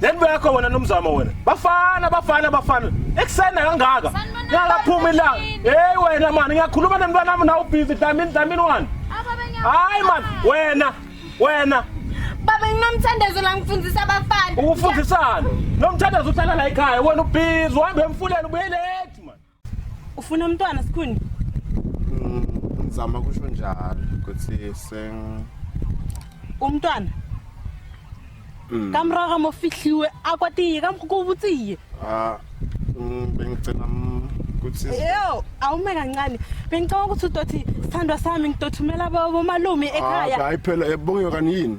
Then bakho wena nomzamo wena. Bafana bafana bafana. Ekusena kangaka. Ngakaphuma ilanga. Hey wena mani ngiyakhuluma nemntwana wami nawu busy dlamini dlamini wani. Hayi man wena wena. Baba nginomthandazo la ngifundisa abafana. Ukufundisana. Nomthandazo uhlala la ekhaya wena ubhizi uhambe emfuleni ubuye late man. ufuna umntwana sikhuni mm, ngizama kusho njalo ukuthi seng umntwana mm. kamraga mo fihliwe akwatiye kamkukubutiye ah mm, bengicela ukuthi yo awume kancane bengicela ukuthi udothi sithandwa sami ngidothumela bomalume ekhaya ah, hayi phela ebongiwe kanini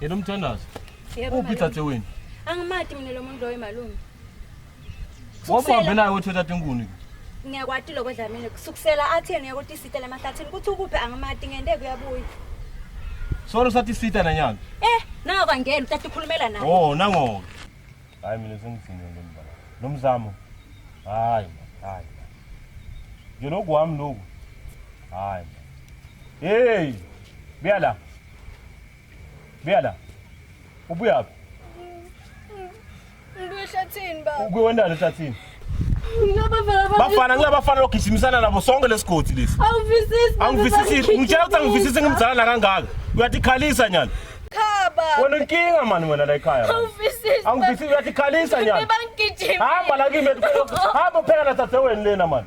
Yena umthandazo. Yebo. Uphi thathe wena? Angimati mina lo muntu loyo malume. Wabe wabe naye wethu thathe inkuni. Ngiyakwati lokho dlamini kusukusela atheni yakuthi isita lamahlathini kuthi ukuphi angimati ngende kuyabuya. Solo sathi isita nanyana. Eh, nawo kwangena uthatha ukhulumela naye. Oh, nangoke. Hayi mina sengidiniwe nje mzala. Lo mzamo. Hayi, hayi. Nje lokhu wami lokhu. Hayi. Hey! Buya la. Buya la. Ubuyaphi? Ngibuye ehlathini baba. Ubuye wendani ehlathini? bafana ngilabafana logijimisana nabo sonke lesigodi lesi angivisisi ngitshela ukuthi angivisisi ngimzala nakangaka uyatikhalisa nyana wena inkinga mani wena la ekhaya angivisisi uyatikhalisa nyana hamba lakimi hamba phela na dadewenu lena mani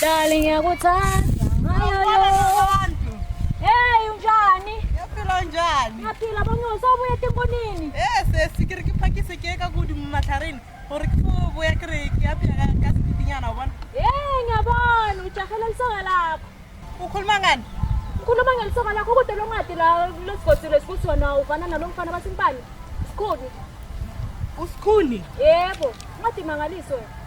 Dali ngiyakuthanda ngayo abantu. Hey unjani? Ngiyaphila njani? Ngiyaphila bonke usobuya timbonini. Eh sesi ke re ke phakise ke ka kudi mo matlhareng gore ke fo boya ke re ke apea ka ka sepipinyana o bona. Hey ngiyabona ujahela lisoka lakho. Ukhuluma ngani? Ngikhuluma ngelisoka lakho kude lo ncwadi la lesigodile sikusona uvana nalo mfana basimpani. Sikhuni. Usikhuni? Yebo, ncwadi mangaliso wena.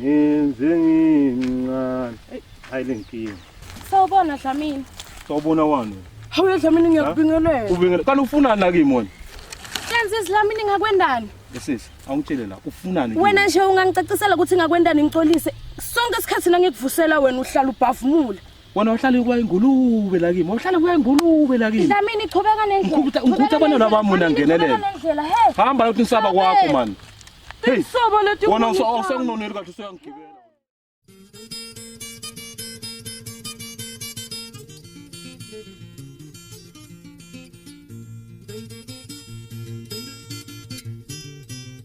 Ngenze ngincane. Hey, hayi lenkinga. Sawubona Dlamini. Sawubona wani? Hawu yadlamini ngiyakubingelela. Ubingelela. Kanti ufunani la kimi wena? Kanti Dlamini ngakwendani? Sisi, awungitshele la ufunani? Wena nje ungangicacisela ukuthi ngakwendani ngixolise. Sonke isikhathi nangikuvusela wena uhlala ubhavumula. wena wahlala kuba ingulube la kimi wahlala kuba ingulube la kimi Dlamini chubeka nendlela Ngikhupha- ngikhupha abantwana bami wena ngenelele. hamba yokuthi nisaba kwakho mani Hey, Sobo leti wona usa- ukhuluma. usenginoneli kahle usuyangigibela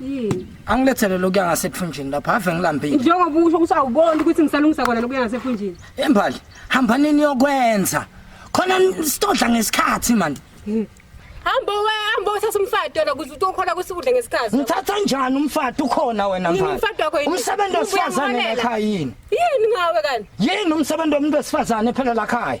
yini angilethele lokuya ngasephunjini lapha ave ngilambile njengoba usho ukuthi awuboni ukuthi ngisalungisa kona lokuya ngasephunjini embali hamba nini yokwenza khona sitodla ngesikhathi manje hamba we hamba uthatha umfati yona kuze utokhona ukuthi udle ngesikhathi ngithatha njani umfati ukhona wena mfana umfati wakho yini umsebenzi wesifazane ekhaya yini yini ngawe kanti yini umsebenzi womuntu wesifazane phela la khaya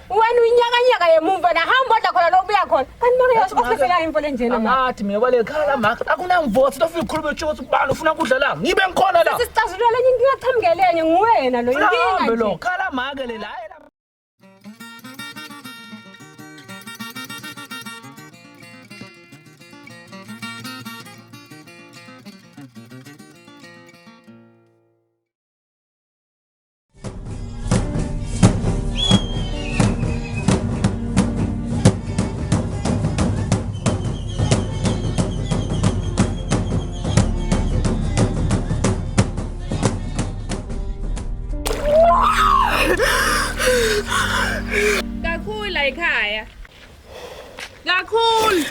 Wena uyinyakanyaka yemumva na hamba odla khona lo ubuya khona. Kanti mama yosho ofese la imfo lenjena ma. Athi mina kwale khala ma akunamvothi lofika ukhuluma utsho ukuthi ubani ufuna kudla la. Ngibe ngikhona la. Sisicazulula lenye inkinga qhamukelene nguwena lo inkinga. Hambe lo khala ma ke le la. kakhulu ayikhaya kakhulu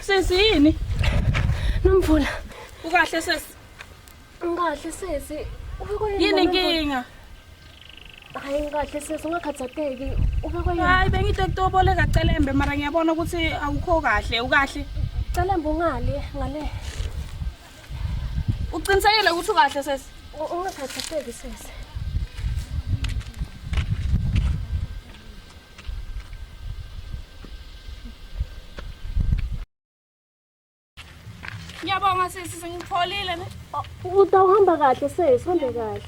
sesiyini nomvula ukahle sesi Ngikahle sesi. Yini inkinga? Hayi ngikahle sesi ungakhathateki. Ubekwe yini? Hayi bengithi kutoboleka celembe mara ngiyabona ukuthi awukho kahle, ukahle. Celembe ungale ngale. Uqinisekile ukuthi ukahle sesi? Ungakhathateki sesi. Ngiyabonga sisi sengipholile ne. Utawuhamba kahle sesi, hambe kahle.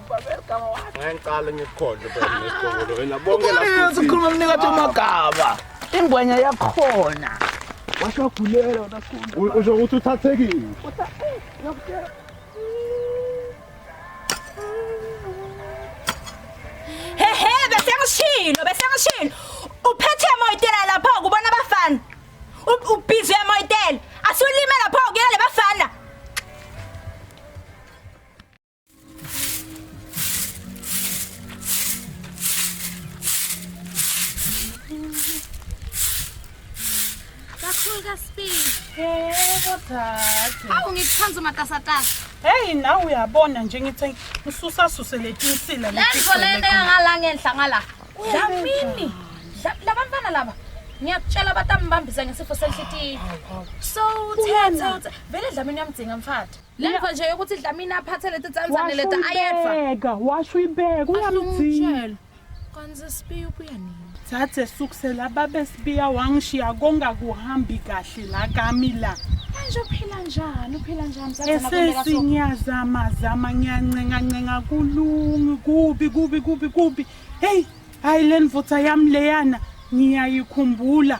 Ngiqale ngikukhohle phela nesiqongolo wena bonke la. Ukhuluma ukhuluma mnika athi amagaba. Ingwenya yakhona. Washo gulela wena sikhulu. Usho ukuthi uthathekile. Hehe bese ngishilo bese ngishilo. Uphethe emoyitela lapha kubona abafana. U- Ubhizi emoyitela. Asulime lapha kuyena lebafana. Awu ngikuthanda umatasatasa. Hey nawe uyabona nje ngithi ususa suse letinsila leti. Lento lento yangala ngenhla ngala. Dlamini. Labantwana laba. Ngiyakutshela batambambisa ngesifo senhlitiyo. So uthethe vele dlamini yamdzinga mfati. Lemva nje yokuthi Dlamini aphathe leti tsandzane leta ayedva. Washuyibeka, washuyibeka uyamdzinga. Asumtshela. Kanti sesibiya ubuya nini? Thathe sukusela babe sibiya wangishiya konga kuhambi kahle la kami la. Manje uphila njani? Uphila njani? Esesi ngiyazama zama ngiyancenga ncenga kulungi kubi kubi kubi kubi. Hey, hayi lenvutha yami leyana ngiyayikhumbula.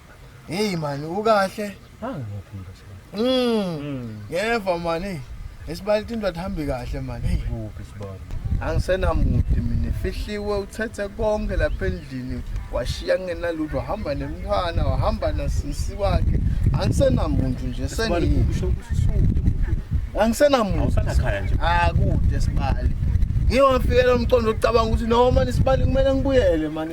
Hey man ukahle? Angiphinda sibali. Mm. Ngeva man hey. Esibali into athambi kahle man hey. Kuphi sibali? Angisenamude mina fihliwe uthethe konke lapha endlini washiya kungenalutho wahamba nemntwana wahamba nasisi wakhe angisenamuntu nje Sibali sengi kusho ukuthi usude. angisenamuntu Awusanakhaya nje. akude sibali ngiwafikela umqondo ocabanga ukuthi noma nisibali kumele ngibuyele man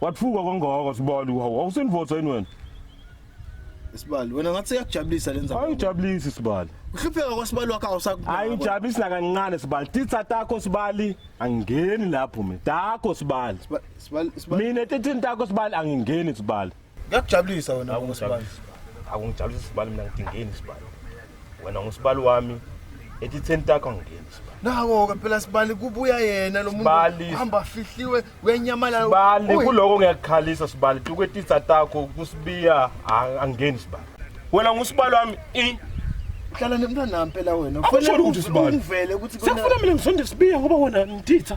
Wathuka kangaka sibali hawu awusinvoza yini wena? Sibali wena ngathi yakujabulisa lenza. Ayijabulisi sibali. Uhlupheka kwasibali wakho awusaku. Ayijabulisi nakancane sibali. Titsa takho sibali angingeni lapho mina. Takho sibali. Sibali sibali. Mina tithini takho sibali angingeni sibali. Ngiyakujabulisa wena Awu, ngosibali. akungijabulisi isibali mina ngidingeni isibali wena ngusibali wami ethi ten takho angingeni isibali Nako ke phela sibali kubuya yena lo Sibali. muntu hamba fihliwe uyanyamalala. sibali Uyi- kuloko ngiyakukhalisa sibali tukwetitsa takho kusibiya a- angingeni sibali wena ngusibali wami i Hlala nemntwana nami phela wena. Akusho Kufanele lutho, uv- Sibali. Ungivele ukuthi sekufuna mina ngisonde sibiya ngoba wena ngititha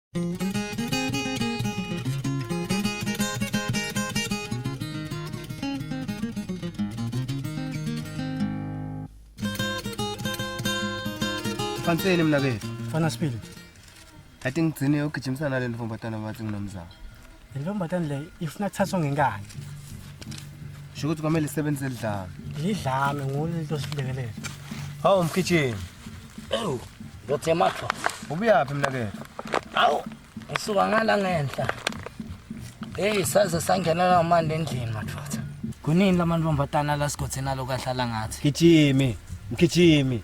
Fanseni mna bethu. Fana sibili. Athi ngigcine ugijimisana le ntombatana bathi nginomzamo. Le ntombazane le ifuna kuthathwa ngenkani. Sho ukuthi kwamele isebenze lidlame. Lidlame ngolo lento silekelele. Hawu mkhitshini. Ewu, ngothe matho. Ubuyaphi mnakethu? Awu, ngisuka ngala ngenhla. Hey, saze sangena la manje endlini madoda. Kunini lamantombazana la sigothena lokahlala ngathi? Gijimi, mgijimi.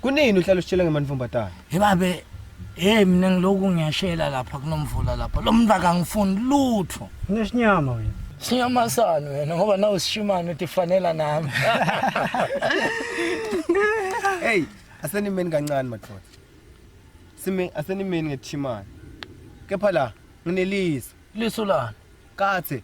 Kunini uhlala usitshela ngemanifombatana? Hey babe, hey mina ngiloku ngiyashela lapha kunomvula lapha. Lo muntu akangifuni lutho. Unesinyama wena. Sinyama sani wena ngoba nawe sishimane uthi fanela nami. Hey, asenimeni kancane madoda. Sime asenimeni ngethimana. Kepha la nginelisa. Lisu lani? Kathe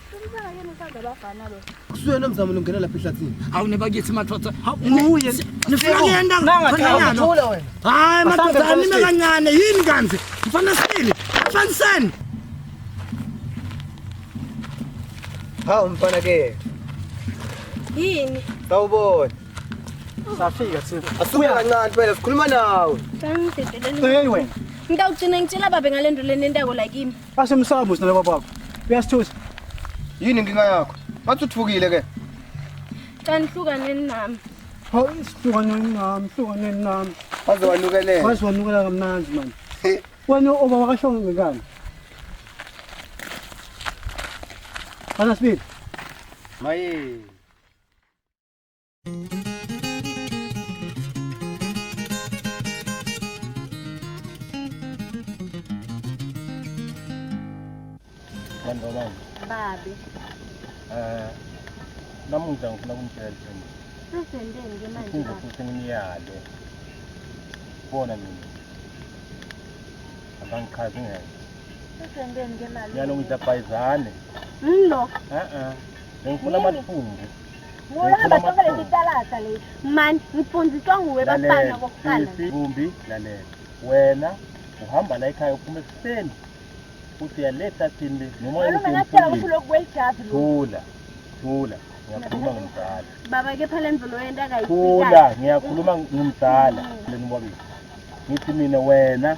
Kusuyena mzamo longena lapha ehlathini. Hawu nebakithi madoda. Nguye. Nifuna kuyenda khona Thula wena. Hayi madoda anime kancane yini kanti? Mfana sile. Mfaniseni. Hawu mfana ke. Yini? Sawubona. Safika sipho. Asuke kancane phela sikhuluma nawe. Hey wena. Ngitawugcina ngitshela babe ngalento lenentako la kimi. Ashe msamo sina baba wakho. Uyasithusa. Yini inkinga yakho? Bathi uthukile ke. Cela nihlukaneni nami. Hawu isihlukaneni nami, hlukaneni nami. Waze wanukelela. Waze wanukelela kamnandi manje. Wena oba wakasho ngekani? Ana sibili. Maye. Kanjani? Babi. Eh namuhla ngifuna kumtshela iqiniso. Sesenzeni ke manje? Ngifuna ukuthi ngimyale. Bona mina. Abangichazi ngeke. Sesenzeni ke manje? Yalo ngidabhayizane. Ngilo. Eh eh. Ngifuna amathumbu. mani ngifundiswa nguwe bafana kokuqalaumbi lalela wena uhamba la ekhaya uphuma ekuseni uthi uyaletha thini noma thula thula ngiyakhuluma ngomdala baba kepha le mvulo yento akayikhula ngiyakhuluma ngomdala lenibabili ngithi mina wena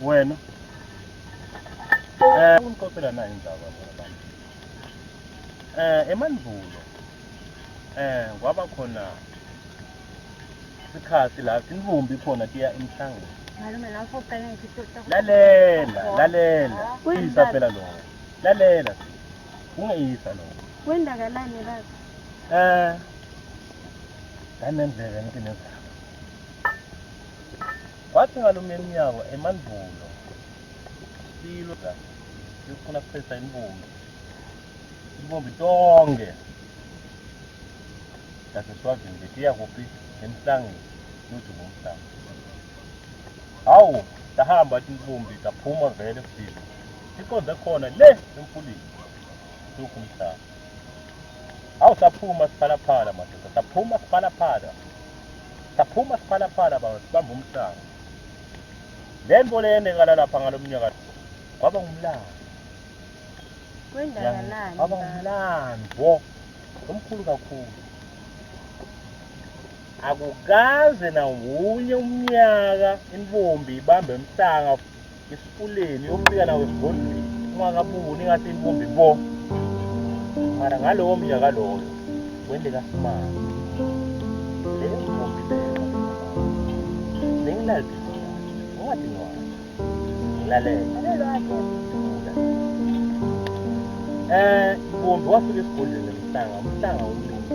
wena eh ungixoxela nayo indaba abantu eh emandulo eh kwaba khona isikhathi la sinivumbi khona tiya emhlangeni malume la ufoqela ngithi lalela lalela kuyisa phela lo lalela ungeyisa lo kwendakalani baba eh ndanendlela ngithi nezaba Kwathi ngalomnye emnyango emandulo silwa sifuna kuphetha inbumbi inbumbi tonke yaseswazini bethi iyakuphi emhlangeni luthi ngomhlanga hawu sahamba athi inbumbi saphuma vele sibili siqonde khona le emfuleni sukho umhlanga Awu saphuma siphalaphala madoda, saphuma siphalaphala. Saphuma siphalaphala baba sibamba umhlanga. Le nto le yenzekala lapha ngalo mnyaka kwaba ngumlando. Kwendakalani? Kwaba ngumlando omkhulu kakhulu. Akukaze nawunye umnyaka intombi ibambe umhlanga esifuleni yofika nawo esigodlweni ungakabuni ngathi inkumbi bo mara ngalowo mnyaka loyo wende kasimanga le nkumbi leyo bengilaliphi ungathi ngwana ngilalele eh kumbe wafika esigodlweni mhlanga mhlanga umlungu